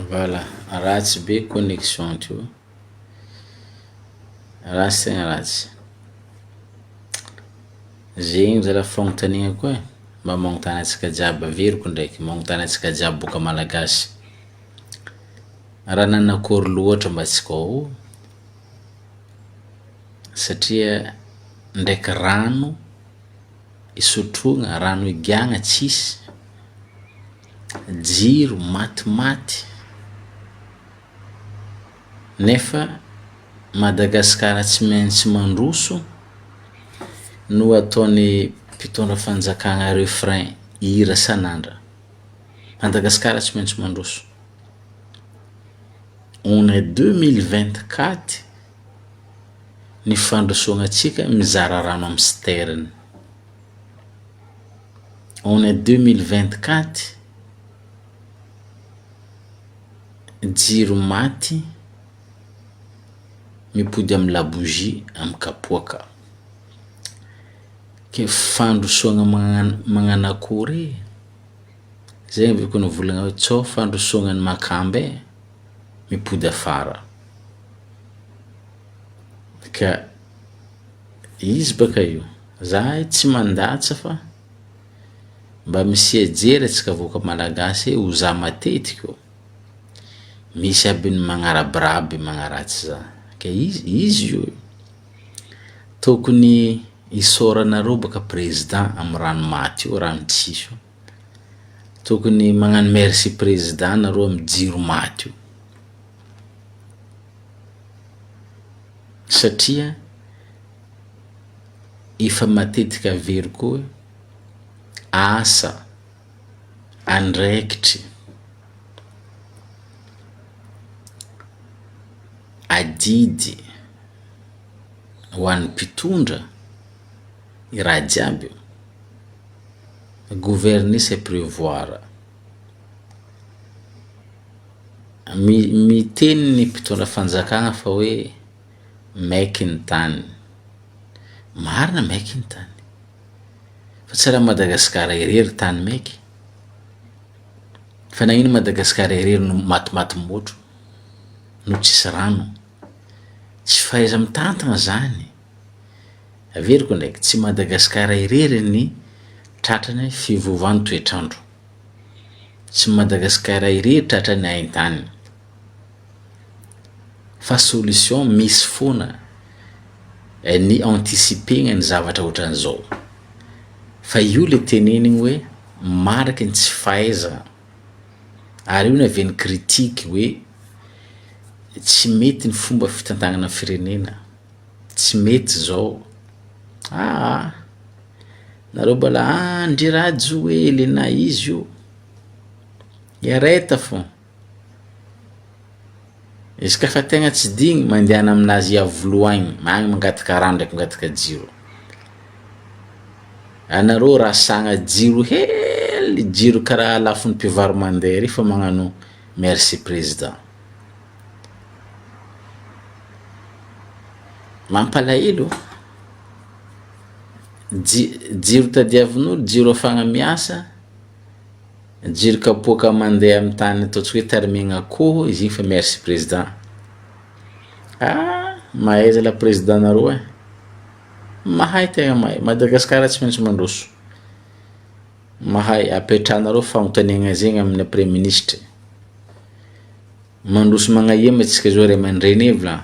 Voilà ratsy be connexion ndreo, ratsy tegna ratsy, zegny zala fagnontanina koa e, mba magnontana antsika jiaby, averiko ndraiky, magnontana antsika jiaby boka malagasy, raha nanakory loatra mba tsika ao satria ndraiky rano isotroana, rano igiahana tsisy. jiro maty maty nefa Madagascar tsy maintsy mandroso no ataony mpitondra fanjakana refrain hira san'andra Madagascar tsy maintsy mandroso on est deux mille vingt quatre ny fandrosoana antsika mizara rano amin'ny sterne on est deux mille vingt quatre jiro maty mipody amin'ny labougie amin'ny kapoaka ke fandrosoagna magna- magnano akory e? zay avy eo ko nivolagna hoe tsao fandrosoagna ny makamba e mipody afara ka izy baka io. Zahay tsy mandatsa fa mba misia jery atsika vahoaka malagasy e ho za matetiky ô misy aby ny magnarabiraby magnaratsy za ka izy izy io e tokony isaoranareo baka prezida am rano maty io rano tsisy io tokony magnano merci prezida nareo am jiro maty io satria efa matetika very koa asa andraikitry adidy ho an'ny mpitondra ny raha jiaby io gouverner c'est prévoir miteny ny mpitondra fanjakana fa hoe maiky ny tany. Marina maiky ny tany. Fa tsy raha Madagasikara irery tany maiky. Fa nagnino Madagasikara irery no matimaty motro no tsisy rano. Tsy fahaiza mitantana zany. Averiko ndraiky tsy Madagasikara irery ny tratrany fiovaovan'ny toetr'andro. Tsy Madagasikara irery tratrany haintany. Fa solution misy foana eh, ny anticiper-gna ny zavatra ohatran'izao. Fa io le tenenigny hoe mariky ny tsy fahaizagna. Ary io ny avy ny critique hoe tsy mety ny fomba fitantagnana ny firenena, tsy mety zao. Aa! Nareo mbôla an ndry rhajo hoe Elena izy io, hiareta fô. Izy ka fa tegna tsy digny mandehana aminazy ao voloagny agny mangataka rano ndraiky mangataka jiro. Anareo rasagna jiro hely jiro kara lafiny mpivaro mande re fa magnano merci président. Mampalahelo ô, ji- jiro tadiavin'olo jiro afahagna miasa. Jiro kapoaka mandeha amin'ny tany ataontsika hoe tarimegna akoho izy igny fa merci président. Ah mahay zalahy président nareo eh. Mahay tegna mahay, Madagascar tsy maintsy mandroso. Mahay apetrahanareo fagnontaniagna zegny amin'ny praiministra. Mandroso magnahia ma antsika zao ray aman-dreny e vla.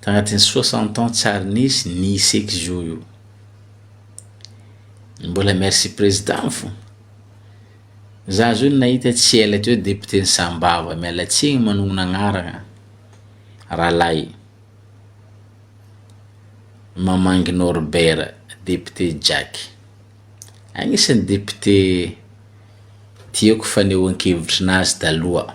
Tagnatin'ny soixante ans tsy ary nisy ny sex jour io. Mbola merci président fô. Za zao nahita tsy ela teo député ny Sambava, miala tsiny manognona agnarana rahalahy Mamangy Norbert, député Jack. Agnisan'ny député tiako fanehoan-kevitrinazy taloha.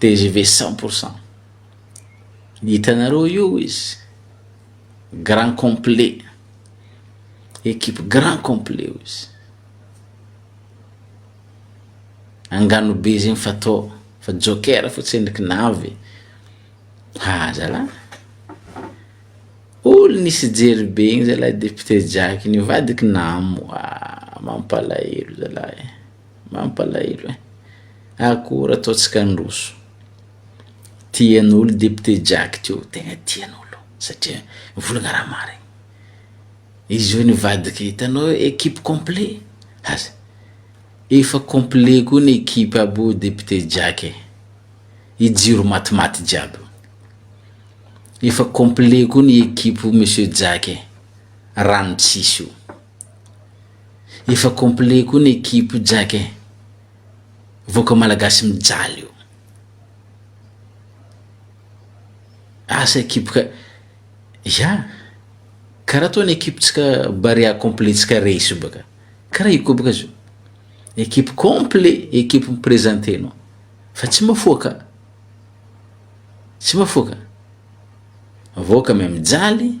Tgv cent pour cent hitanareo io izy grand complet equipe grand complet io izy angano be zegny fa to fa joker fo tsy endriky navy ha zalah olo nisy jery be igny zalah depute jaky nivadiky namo ah mampalahelo zalah eh. Mampalahelo eh! Akora ataontsika handroso. Tian'olo député Jack teo, tegna tian'olo satria mivolagna raha marigny. Izy io nivadika hitanao equipe complet aza efa complet koa ny equipe aby io député Jack eh! I Jiro matimaty jiaby io. Efa complet koa ny equipe Monsieur Jack eh! Rano tsisy io. Efa complet koa ny equipe io Jack eh! Vahoaka malagasy mijaly io. Asa equipe ka, ya, karaha toa ny equipe tsika Barea complet tsika Reiso io baka, karaha io koa baka zao, equipe complet equipe mi-presenter anao, fa tsy mafoaka, tsy mafoaka, vahoaka mijaly.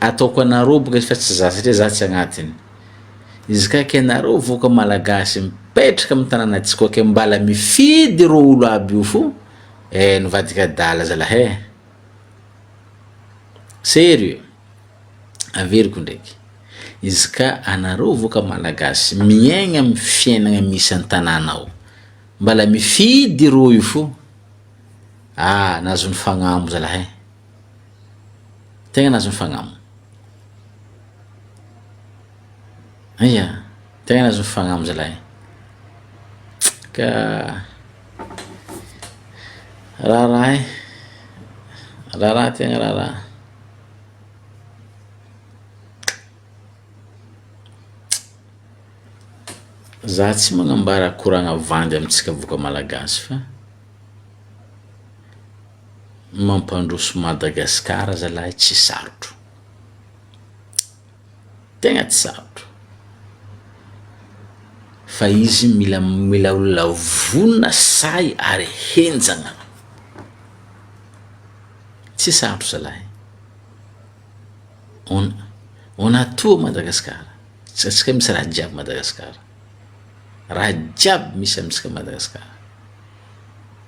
ataoko anareo boka izy fa tsy za satria za tsy agnatiny izy ka ke nareo voka malagasy mipetraka amin'ny tanàna tsy koke mbala mifidy ro olo aby io fo eh nivadika adala zalah eh serieux averiko ndraiky izy ka anareo voka malagasy miaigna amin'ny fiainagna misy an-tanàna ao mbala mifidy ro io fo ah nazon'ny fagnambo zalah eh Tegna nahazo ny fagnaminy. Ia, tegna nahazo ny fagnaminy zalahy e. Ka raharaha e, raharaha tegna raharaha. Za tsy magnambara koragna vandy amintsika boka malagasy fa. mampandroso Madagascar zalahy tsy sarotro tegna tsy sarotro fa izy mila mila olona vonona sahy ary henjagna tsy sarotro zalahy on on a tout Madagascar tsy atsika misy raha jiaby Madagascar raha jiaby misy amitsika Madagascar.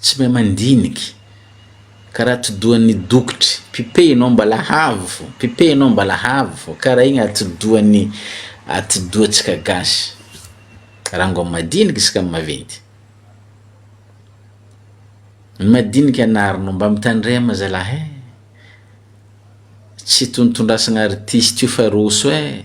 Tsy mahay mandiniky. Karaha atidohan'ny dokotry, pipehinao mbala havo, pipehinao mbala havo, karaha igny atidohan'ny atidohantsika gasy. Rango amin'ny madiniky isaka amin'ny maventy. Ny madiniky anarinao mba mitandrema zalahy eh, tsy itontondrasagna artiste io fa roso eh.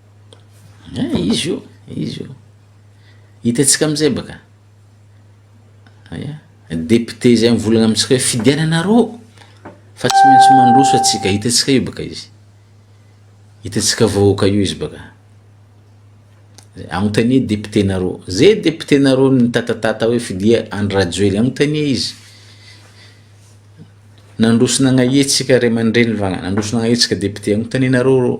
Eh, izy io, izy io. Hitantsika am'zay baka. Aya, député zay mivolagna amintsika hoe fidiananareo fa tsy maintsy mandroso atsika, hitantsika io baka izy. Hitantsika vahoaka io izy baka. Agnontania député-nareo. Zay député-nareo nitatatata hoe fidia Andry Rajoely, agnontania izy. Nandroso nagnahiatsika ray aman-dreny va, nandroso nagnahiatsika député, agnontanianareo reo.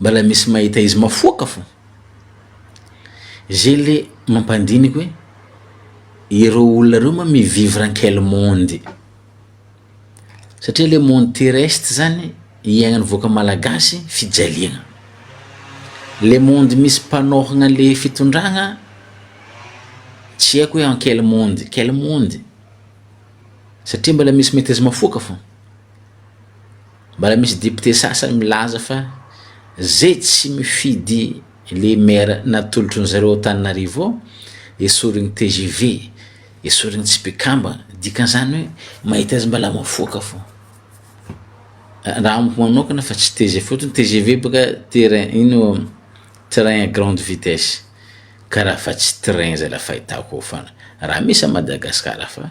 Mbala misy mahita izy mafoaka fo. Zay le mampandiniky hoe ireo olona ireo ma mi vivre en quel monde? Satria le monde terrestre zany iaignan'ny vahoaka malagasy fijaliagna. Le monde misy mpanôhagna le fitondragna tsy haiko hoe en quel monde, quel monde? Satria mbala misy mahita izy mafoaka fo. Mbola misy député sasany milaza fa zay tsy mifidy le maire natolotrin'ny zareo Antananarivo esoriny tgv, esoriny tsy mpikambana, dikan'izany hoe mahita azy mbola mifoka fo. Raha amiko manokana fa tsy tgv fotony, tgv boka terrain ino train à grande vitesse ka raha fa tsy train zay la fahitako eo fona, raha misy a Madagascar fa.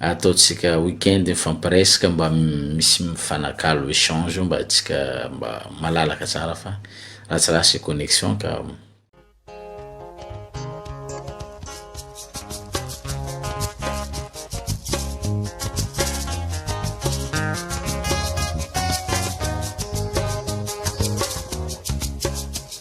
ataontsika week-end mifampiresaka mba misy mifanakalo échange mba tsika mba malalaka tsara fa ratsiratsy connexion ka